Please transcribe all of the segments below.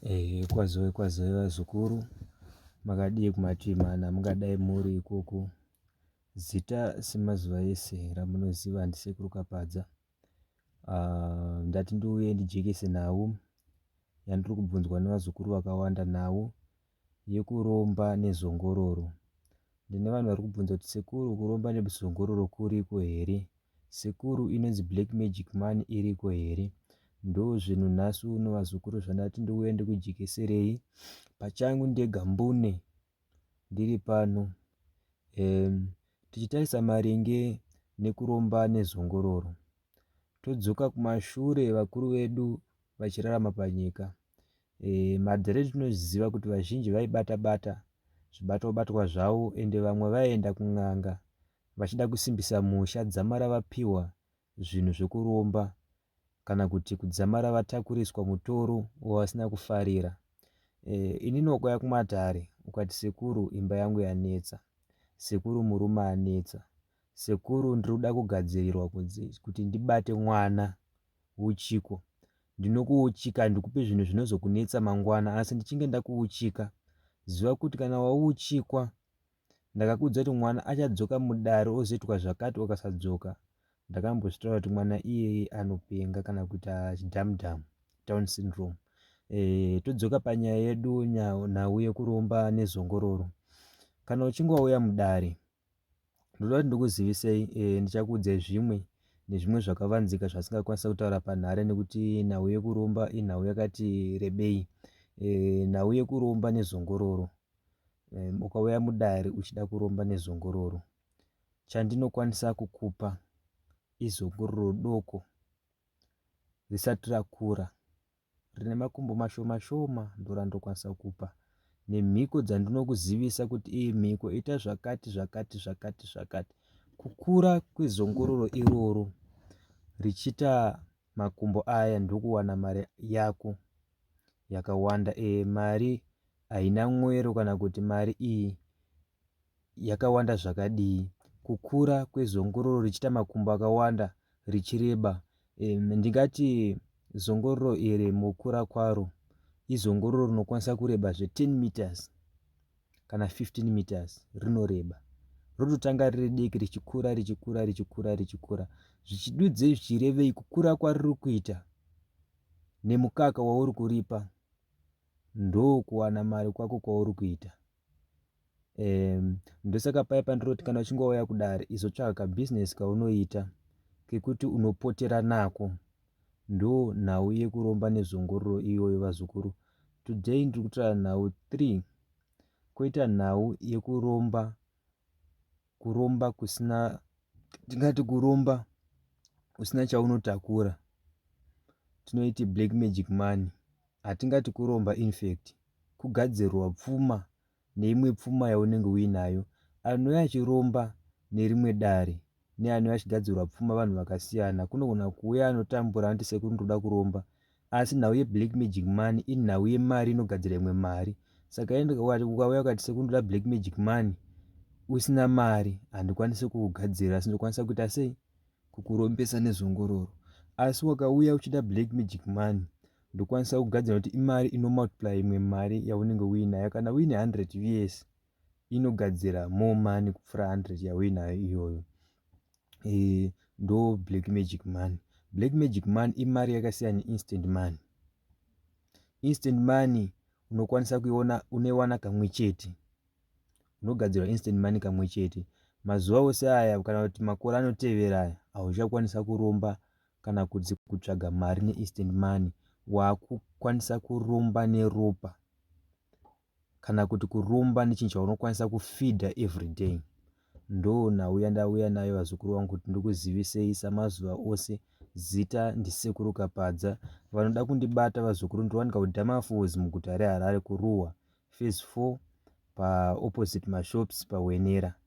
Eh, kwazoe kwazoe vazukuru makadii kumativi mana mungadai muri ikoko zita semazuva ese ramunoziva ndisekuru kapadza uh, ndati ndiuye ndijekese nhau yandiri kubvunzwa nevazukuru vakawanda nhau yekuromba nezongororo. Ndine vanhu vari kubvunza kuti sekuru kuromba nezongororo kuriko here? Sekuru inonzi black magic money iriko here? Ndozvinhu nhasi uno vazukuru zvandati ndouya ndikujekeserei pachangu ndega mbune ndiri pano. Um, tichitarisa maringe nekuromba nezongororo. Todzoka kumashure vakuru vedu vachirarama panyika. e, madhare tinoziva kuti vazhinji vaibata bata zvibatwa batwa zvavo ende vamwe vaienda kun'anga vachida kusimbisa musha dzamara vapiwa zvinhu zvekuromba kana kuti kudzamara vatakuriswa mutoro wavasina kufarira e, ini nokuya kumatare ukati sekuru imba yangu yanetsa sekuru murume anetsa sekuru ndiri kuda kugadzirirwa kuti ndibate mwana uchiko. Ndinokuuchika handikupe zvinhu zvinozokunetsa mangwana asi ndichinge ndakuuchika. Ziva kuti kana wauchikwa ndakakuudza kuti mwana achadzoka mudare ozoitwa zvakati okasadzoka ndakambozvitaura kuti mwana iyeye anopenga kana kuita chidhamudhamu down syndrome e, todzoka panyaya yedu nhau yekuromba nezongororo kana uchinge wauya mudare Ndoda kuti ndikuzivisei eh, ndichakuudzai zvimwe nezvimwe zvakavanzika zvasingakwanisa kutaura panhare nekuti nhau yekuromba inhau yakati rebei eh, nhau yekuromba nezongororo eh, ukauya mudare uchida kuromba nezongororo chandinokwanisa kukupa izongororo doko risati rakura rine makumbo mashoma shoma ndorandokwanisa kupa nemhiko dzandinokuzivisa kuti iyi mhiko ita zvakati zvakati zvakati zvakati kukura kwezongororo iroro richiita makumbo aya ndokuwana mari yako yakawanda e mari haina mwero kana kuti mari iyi yakawanda zvakadii, kukura kwezongororo richiita makumbo akawanda richireba. Ndingati zongororo iri mukura kwaro izongororo rinokwanisa kureba zve 10 meters kana 15 meters rinoreba rototanga riri diki richikura richikura richikura richikura zvichidudze zvichirevei kukura kwariri kuita nemukaka wauri kuripa ndokuwana mari kwako kwauri kuita Ehm ndosaka paya pandinoti kana uchingouya kudare izotsvaga kabusiness kaunoita kekuti unopotera nako. Ndo nhau yekuromba nezongororo iyoyo vazukuru. Today ndiri kutaura nhau 3 koita nhau yekuromba kuromba kusina tingati kuromba usina chaunotakura tinoiti black magic money. Hatingati kuromba infact. kugadzirwa pfuma neimwe pfuma yaunenge uinayo. Anouya achiromba nerimwe dare neanouya achigadzirwa pfuma vanhu vakasiyana. Kunogona kuuya anotambura anoti sekuru ndoda kuromba asi nhau yeblack magic money inhau yemari inogadzira imwe mari. Saka ukauya ukati sekuru ndoda black magic money usina mari handikwanise kukugadzirira asi ndokwanisa kuita sei kukurombesa nezongororo. Asi wakauya uchida black magic money ndokwanisa kugadzira kuti imari inomultiply imwe mari yaunenge uinayo kana uine 100 vs inogadzira more money kupfuura 100 yauinayo iyoyo e, ndo black magic money black magic money imari yakasiyana neinstant money instant money unokwanisa kuiona unoiwana kamwe chete unogadzirwa instant money kamwe chete mazuva ose aya kana kuti makore anotevera aya hauchakwanisa kuromba kana kuti kutsvaga mari neinstant money wakukwanisa kuromba neropa kana kuti kuromba nechinhu chaunokwanisa kufidha everyday ndo nhau yandauya nayo vazukuru vangu kuti ndikuzivisei samazuva ose zita ndisekuru kapadza vanoda kundibata vazukuru ndinowanika kudamafos muguta reharare kuruwa fase 4 paopposite mashops pahwenera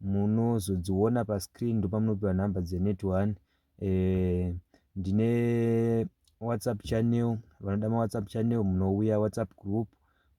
munozodziona pa screen ndopamunopiwa number dze net one eh, ndine whatsapp channel vanoda ma whatsapp channel munouya whatsapp group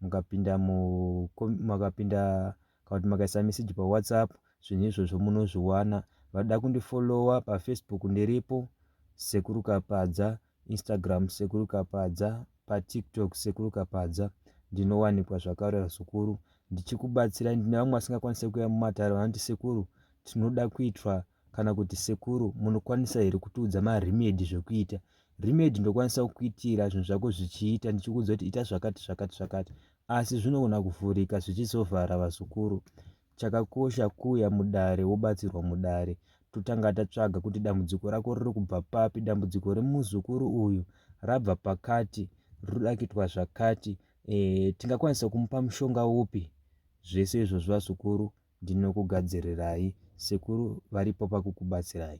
mukapinda mu makapinda kana kuti makaisa message pa whatsapp zvinhu izvozvo munozviwana vanoda kundifollowa pa facebook ndiripo sekuru kapadza Instagram sekuru Kapadza pa TikTok sekuru Kapadza ndinowanikwa zvakarera zukuru ndichikubatsira ndine vamwe vasingakwanise kuya mumatare vanoti sekuru tinoda kuitwa kana kuti sekuru munokwanisa here kutiudza maremedi zvekuita remedi ndokwanisa kukuitira zvinhu zvako zvichiita ndichikuudza kuti ita zvakati zvakati zvakati asi zvinogona kuvhurika zvichisovhara vazukuru Chakakosha kuuya mudare wobatsirwa mudare totanga tatsvaga kuti dambudziko rako riri kubva papi dambudziko remuzukuru uyu rabva pakati rinoda kuitwa zvakati e, tingakwanisa kumupa mushonga upi zvese izvozvo vazukuru ndinokugadzirirai sekuru varipo pakukubatsirai